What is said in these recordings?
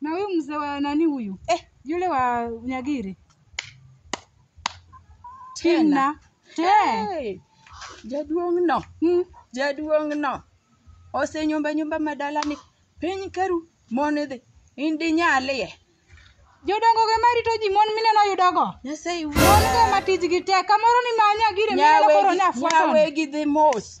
na huyu mzee wa nani huyu eh, yule wa Nyagiri Tina eh, Hey, jaduong' no mm, jaduong' no osenyumba nyumba madalani piny karu mon idhi in dinyalie jodongo ge marito ji mon mineno yudogo nyasaye mon go ma tijgi tek kamoro ni ma Nyagiri mineno koro nyafuaton nyawegi dhi mos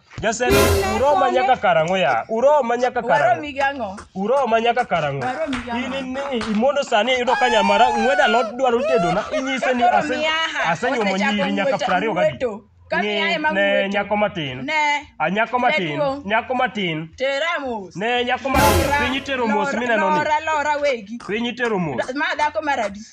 Jasend uroma nyaka karang'o ya? Uroma nyaka karang'o? Waromi gi ang'o? Uroma nyaka karang'o? Waromi gi ang'o? In ni imondo sani iyudo ka nyamara ng'weda lot dwaro tedona inyise ni ase asenyuomo nyiri nyaka 20 gadi. Ng'i ne nyako matin. Ne. A nyako matin, Jaduong'. nyako matin. Tera mos. Ne nyako matin, Lora, piny itero mos lora, mineno ni. Lora lora wegi. Piny itero mos. Ma dhako maradi.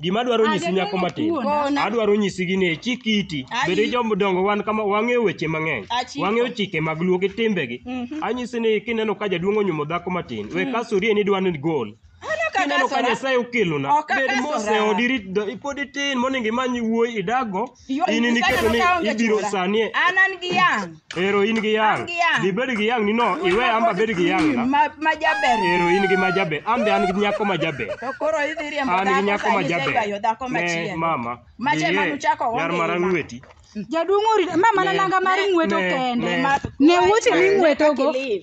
Gima adwaro nyisi nyako matin, Kona. adwaro nyisi gini e chik iti. Ayi. Bende jodongo wan kama wang'eyo weche mang'eny. Achiko. Wang'eyo chike mag luo gi timbegi. Mhm. Anyisi ni kineno ka jaduong' onyuomo dhako matin, we kasuri ni dwa ni gol. Ano ka Kineno ka kasora. Nyasaye okelona, Ok bed akasora. mose odirit, pod itin monego imany wuoyi idago. Yo- In in Isaka iketo ni nokawo onge ibiro chula. sanie. An an gi yang'. Ero in gi yang. An gi yang. Dhi bed gi yang ni no, iwe amba bed gi yang na. Ma ma jaber. Ero in gi majabe. Ambe an gi nyako majabe. To koro idhi riembo An gi dhako nyako sani majabe. iseywayo dhako Ne machielo. mama. Mache dhiye, manu chako Yar onge mara ima. ng'weti. Jaduong' orita, ma mana Ne, nanga mar ne, ng'weto ne, kende. ne. Ne wuoche ni ng'wetogo. Kaka ilil.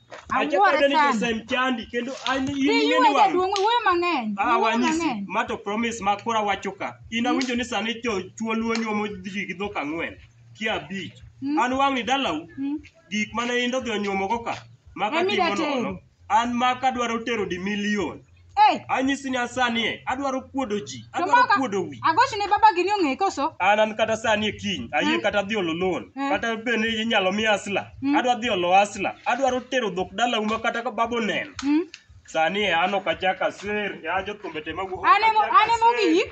Achako Awuoro deni sana. Josem chandi kendo an in Dhi ing'e yue ni wang'. jaduong' wuoyo mang'eny. Ah, Wuoyo wanyisi mang'eny. ma to promise ma kora wacho ka. In awinjo ni sani jo chuo luo nyuomo ji gi dhok ang'wen ki abich. Mm. An wang'ni dalau Mm. gik mane in dodhi onyuomogo ka ma Emi katimo datero. nono. An ma kadwaro tero di milion. Hey, Anyisi ni asani e, adwaro kuodo ji, to adwaro maka, kuodo wi. agoch ne baba gini ong'e koso? An an kata sani e kiny, ayie Mm. kata dhi olo loan, Mm. kata bende inyalo mi asla, Mm. adwa dhi olo asla, adwaro tero dhok dala uma kata ka babo neno. Hmm? Sani e an ok achak aser, ya jothumbe te magu. An emo- an emo giyik.